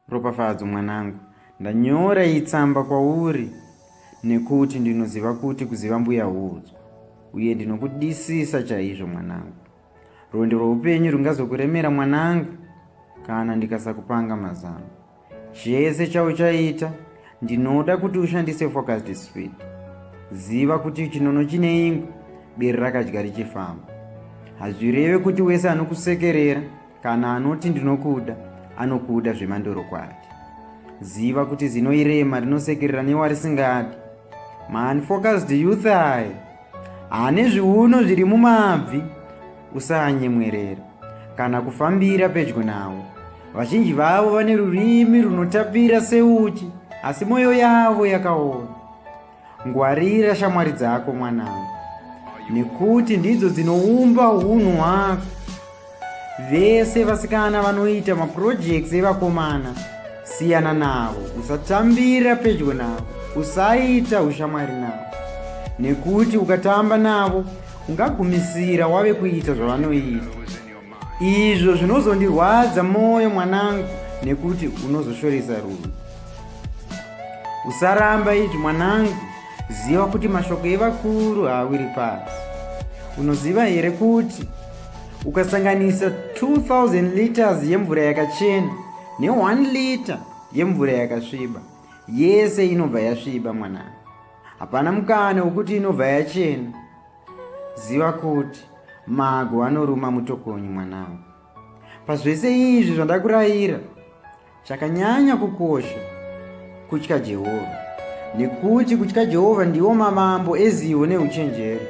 Ropafadzo mwanangu, ndanyora iyi tsamba kwauri nekuti ndinoziva kuti kuziva mbuya huudzwa, uye ndinokudisisa chaizvo mwanangu. Rwendo rwoupenyu rungazokuremera mwanangu kana ndikasakupanga mazano. Chese chauchaita ndinoda kuti ushandise focused speed. Ziva kuti chinono chine ingwe, bere rakadya richifamba. Hazvireve kuti wese anokusekerera Kana anoti ndinokuda, anokuda zvemandorokwati. Ziva kuti zino irema rinosekerera newarisingadi. Maunfocused youth aya ane zviuno zviri mumabvi, usanyemwerera kana kufambira pedyo navo. Vazhinji vavo vane rurimi runotapira seuchi, asi mwoyo yavo yakaoma. Ngwarira shamwari dzako mwanangu, nekuti ndidzo dzinoumba unhu hwako. Vese vasikana vanoita maprojects evakomana, siyana navo, usatambira pedyo navo, usaita ushamwari navo, nekuti ukatamba navo ungagumisira wave kuita zvavanoita. izvo zvinozondirwadza mwoyo mwanangu nekuti unozoshoresa rudo usaramba izvi mwanangu ziva kuti mashoko evakuru haawiri pasi unoziva here kuti ukasanganisa 2000 liters yemvura yakachena ne1 liter yemvura yakasviba yese inobva yasviba mwanangu hapana mukana wekuti inobva yachena Ziva kuti mago anoruma mutokonyi mwanangu. Pazvese izvi zvandakurayira, chakanyanya kukosha kutya Jehovha, nekuti kutya Jehovha ndiwo mavambo ezivo neuchenjeri.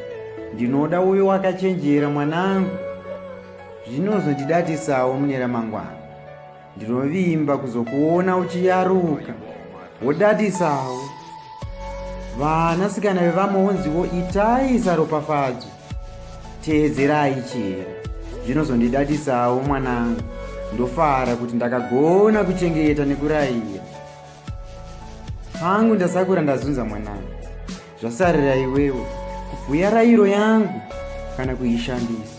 Ndinoda uyo wakachenjera mwanangu, zvinozondidatisawo mune ramangwana. ndinovimba kuzokuona uchiyaruka wodadisawo vanasikana vevamwe wonziwo itai saropafadzo teedzerai chero zvinozondidadisawo mwanangu ndofara kuti ndakagona kuchengeta nekuraiya hangu ndasakura ndazunza mwanangu zvasarira iwewo kubhuya rairo yangu kana kuishandisa